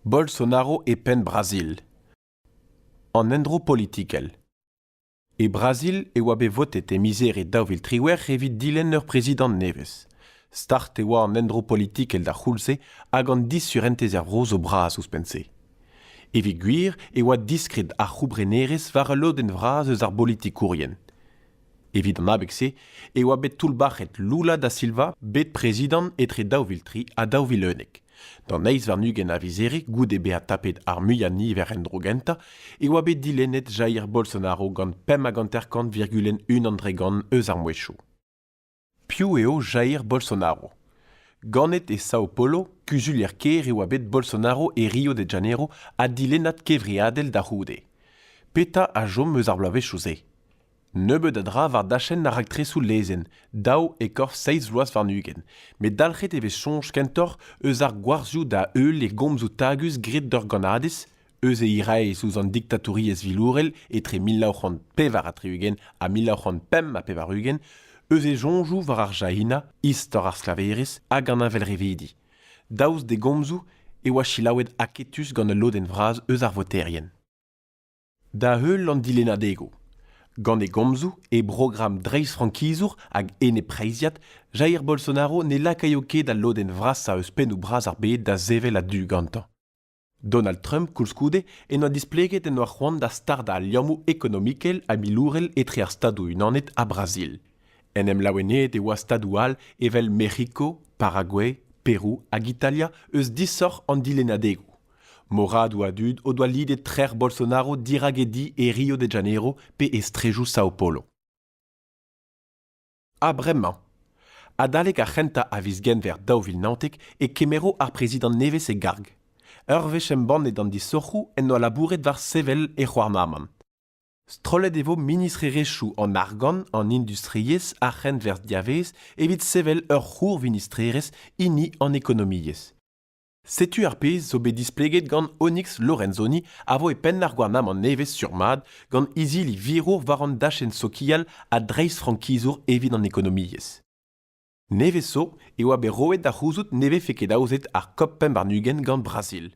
Bolsonaro e penn Brazil. An endro politikel. E Brazil e oa bet votet e miz e daou vil triwec'h evit dilenn ur prezidant nevez. Start e oa an endro politikel d'ar c'houlz-se hag an disurentez er vro zo bras ouzhpenn-se. Evit gwir e oa diskred ar c'houbrenerezh war ul lodenn vras eus ar bolitikourien. Evit an abeg-se e oa bet toullbac'het Lula da Silva bet prezidant etre daou vil tri ha daou vil unnek. D'an eizh warn-ugent a vizere goude bezañ tapet ar muiañ-niver en-dro gentañ e oa bet dilennet Jair Bolsonaro gant pemp hag hanter-kant virgul unan dre gant eus ar mouezhioù. Piv eo Jair Bolsonaro? Ganet e Sao Paulo, kuzulier-kêr e oa bet Bolsonaro e Rio de Janeiro ha dilennad kevreadel da c'houde. Petra a chom eus ar bloavezhioù-se? Nebeut a dra war dachenn ar raktresoù lezenn, daou e-korf seizh vloaz warn-ugent, met dalc'het e vez soñj kentoc'h eus ar gwarzioù da-heul e gomzoù tagus graet d'ur gannadez, eus e iraez ouzh an diktatouriezh vilourel etre mil nav c'hant pevar ha tri-ugent ha mil nav c'hant pemp ha pevar-ugent, eus e soñjoù war ar jahinañ, istor ar sklaverezh hag an heñvelrevidi. Daoust d'e gomzoù e oa selaouet aketus gant ul lodenn vras eus ar voterien. Da-heul an dilennadegoù. Gant e gomzoù, e brogramm dreistfrankizour hag eneppreizhiat, Jair Bolsonaro ne lakaio ket al lodenn vrasañ eus pennoù bras ar bed da sevel a-du gantañ. Donald Trump koulskoude en doa displeget en doa c'hoant da stardañ al liammoù ekonomikel ha milourel etre ar Stadoù-Unanet ha Brazil. En em laoueneet e oa stadoù all evel Mec'hiko, Paraguay, Perou hag Italia eus disoc'h an dilennadegoù. Moradoù a dud o doa lidet trec'h Bolsonaro dirak e di e Rio de Janeiro pe e strejoù Sao Paulo. Ha bremañ, adalek ar c'hentañ a viz Genver daou vil naontek e kemero ar prezidant nevez e garg. Ur wech embannet an disoc'hoù en doa labouret war sevel e c'houarnamant. Strollet e vo ministrerezhioù an argant, an industriezh, ar c'henwerzh diavaez evit sevel ur c'hourvinistrerezh hini an ekonomiezh. Setu ar pezh zo bet displeget gant Onyx Lorenzoni a vo e penn ar gouarnamant nevez sur-mat gant izili virour war an dachenn sokial ha dreistfrankizour evit an ekonomiezh. Nevez zo e oa bet roet da c'houzout ne vefe ket aozet ar COP21 gant Brazil.